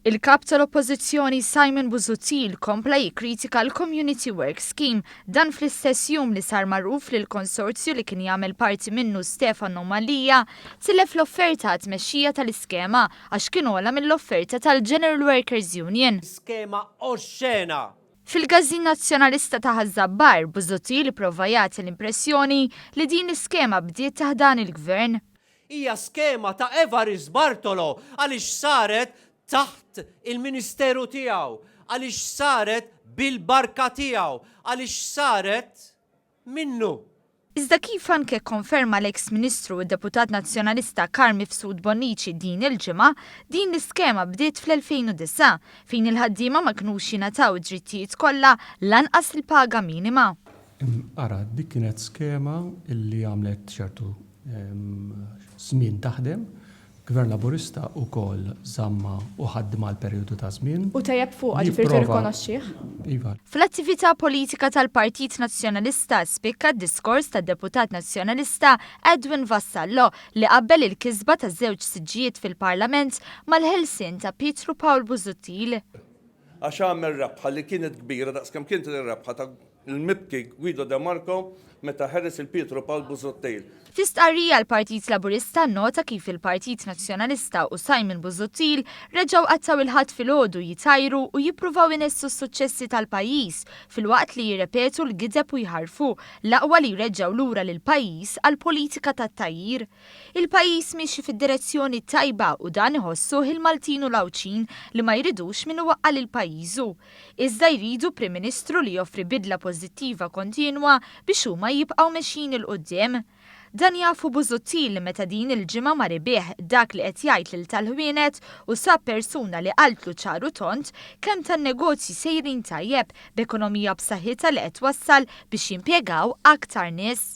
Il-Kap tal-Oppożizzjoni Simon Busuttil kompla jikkritika l-Community Work Scheme dan fl-istess jum li sar magħruf li l-konsorzju li kien jagħmel parti minnu Stefano Mallia tilef l-offerta għat-tmexxija tal-iskema għax kien ogħla mill-offerta tal-General Workers Union. Skema oxxena Fil-Gażin Nazzjonalista ta' Ħaż-Żabbar, Busuttil ipprova jagħti l-impressjoni li din l-iskema bdiet taħt dan il-Gvern. Hija skema ta' Evarist Bartolo għaliex saret taħt il-Ministeru tiegħu, għaliex saret bil-barka tiegħu, għaliex saret. minnu. Iżda kif anke kkonferma l-eks Ministru u Deputat Nazzjonalista Carl Mifsud Bonnici din il-ġimgħa, din l-iskema bdiet fl-2009, fejn il-ħaddiema ma kinux jingħataw id-drittijiet kollha, lanqas il-paga minima. Ara, dik kienet skema li għamlet ċertu żmien taħdem, Gvern Laburista ukoll żammha u ħaddimha għal perjodu ta' żmien. U tejjeb fuqha, ġifieri tirrikonoxxih? Iva. Fl-attività politika tal-Partit Nazzjonalista spikka d-diskors tad-Deputat Nazzjonalista Edwin Vassallo li qabbel il-kisba ta' żewġ siġġijiet fil-Parlament mal-ħelsien ta' Pietru Pawl Busuttil. Għax għamel rebħa li kienet kbira daqs kemm kienet ir-rebħa ta' l-Mibki Guido de Marco meta ħeles lil Pietro Paul Busuttil. Fi stqarrija l-Partit Laburista nnota kif il-Partit Nazzjonalista u Simon Busuttil reġgħu qattgħu il-Ħadd filgħodu jtajru u jippruvaw inessu s-suċċessi tal-pajjiż filwaqt li jirrepetu l-gideb u jħarrfu l-aqwa li jreġġgħu lura lill-pajjiż għall-politika tat-tgħajjir. Il-pajjiż miexi fid-direzzjoni t-tajba u dan iħossuh il-Maltin u l-Għawdxin li ma jridux min iwaqqa' lil pajjiżu. iżda jridu Prim Ministru li joffri bidla pożittiva kontinwa biex huma jibqgħu mexjin 'il quddiem. Dan jafu Busuttil li meta din il-ġimgħa mar ibigħ dak li qed jgħid lil tal-Ħwienet u sab persuna li qaltlu ċar u tond kemm tan-negozji sejrin tajjeb b'ekonomija b'saħħitha li qed twassal biex jimpjegaw aktar nies.